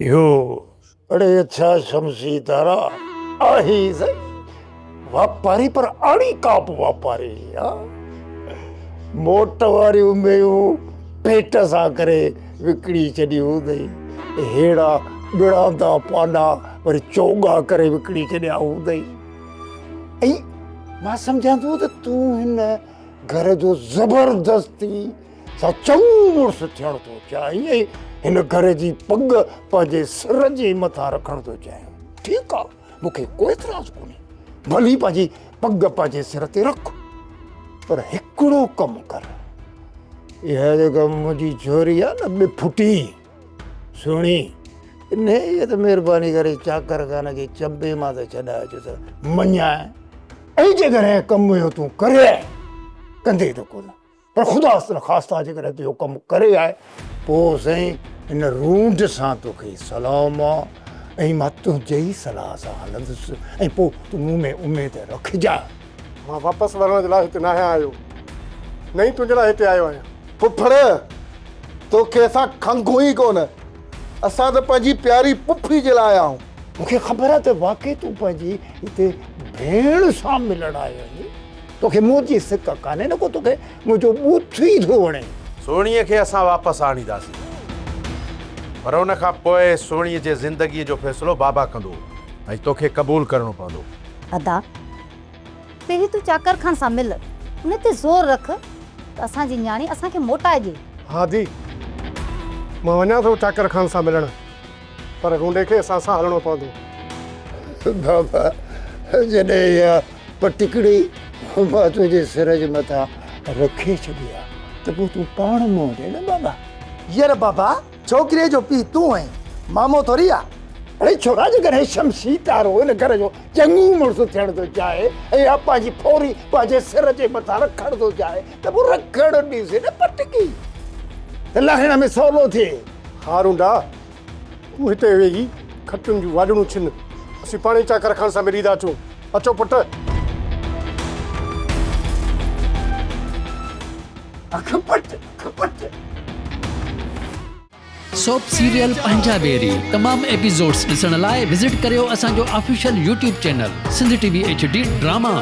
اهو اڙي ڇا شمسي تارا آهي ئي سهي واپاري پر اڻي ڪاپ واپاري ها موٽ واريون ميون پيٽ سان ڪري وڪڻي ڇڏيون اٿئي هيڙا ٻڙاندا پاڏا وري چوڳا ڪري وڪڻي ڇڏيا اٿئي ۽ مان سمجهان ٿو ته تون هن گهر جو زبردستي سا چڱو مڙس ٿيڻ ٿو چاهين ۽ هن گهر جي پڳ پنهنجي سر جي مٿان رکڻ ٿو چاهين. ٺيڪ آ، مون کي ڪو اعتراض ڪونهي. ڀلي پنهنجي پڳ پنهنجي سر تي رک. پر هڪڙو ڪم ڪر. اها جيڪا منهنجي جهري آ نه ٻڦٽي، سهڻي، انهيء کي ته مهرباني ڪري چاڪر خان جي چنبي مان ته ڇڏائي اچ ته مڃانء. ۽ جيڪڏهن ڪم اهو تون ڪري آئين، ڪندين ته ڪونه. پر خدا نا خاصا جيڪڏهن تو اهو ڪم ڪري آء پوء سائين ان رونڊ سان توکي سلام آ ۽ مان تنهنجي ئي صلاح سان هلندس ۽ پوء تون مون ۾ اميد رکجان. مان واپس ورڻ جي لاء هتي ناهيان آيو نه ئي تنهنجي لاء هتي آيو آهيان. ڦڦڙ توکي اسان کنگهون ئي ڪونه اسان ته پنهنجي پياري پڦي جي لاء آيا آهيون. مون کي خبر آ ته واقعي تون پنهنجي هتي ڀيڻ سان ملڻ آيو آهين. توکي موت جي سڪ ڪانهي نه ڪو توکي منهنجو بوٿ ئي ٿو وڻي. سهڻيء کي اسان واپس آڻينداسين پر ان کان پوء سهڻيء جي زندگيء جو فيصلو بابا ڪندو ۽ توکي قبول ڪرڻو پوندو. ادا پهرين تون چاڪر خان سان مل ان تي زور رک ته اسان جي نياڻي اسان کي موٽائي ڏي. هادي، مان وڃان ٿو چاڪر خان سان ملڻ. پر گونڊي کي اسان سان هلڻو پوندو. بابا جڏهن اها پٽڪڙي مان تنهنجي سر جي مٿان رکي ڇڏي ها ته پوء تون پاڻ منهن ڏي نه بابا. ير بابا ڇوڪريء جو پيء تون آهين مامو ٿوري آ. اڙي ڇورا جيڪڏهن شمشي تارو ان گهر جو چڱو مڙس ٿيڻ ٿو چاهي ۽ اها پنهنجي ڦوري پنهنجي سر جي مٿان رکڻ ٿو چاهي ته پوء رکڻ ڏيسي نه پٽڪي ته لاهڻ ۾ سولو ٿئي. ها رونڊا، تون هتي ويهي کٽن جون واڄڻون ڇن، اسين پاڻهي چاڪر خان سان ملي ٿا اچون. اچو پٽ! اک پٽ، اک پٽ! سوپ سيريل پنهنجا بيري تمام ايپيسوڊز ڏسڻ لاء وزٽ ڪريو اسان جو official YouTube channel Sindh T V H D drama.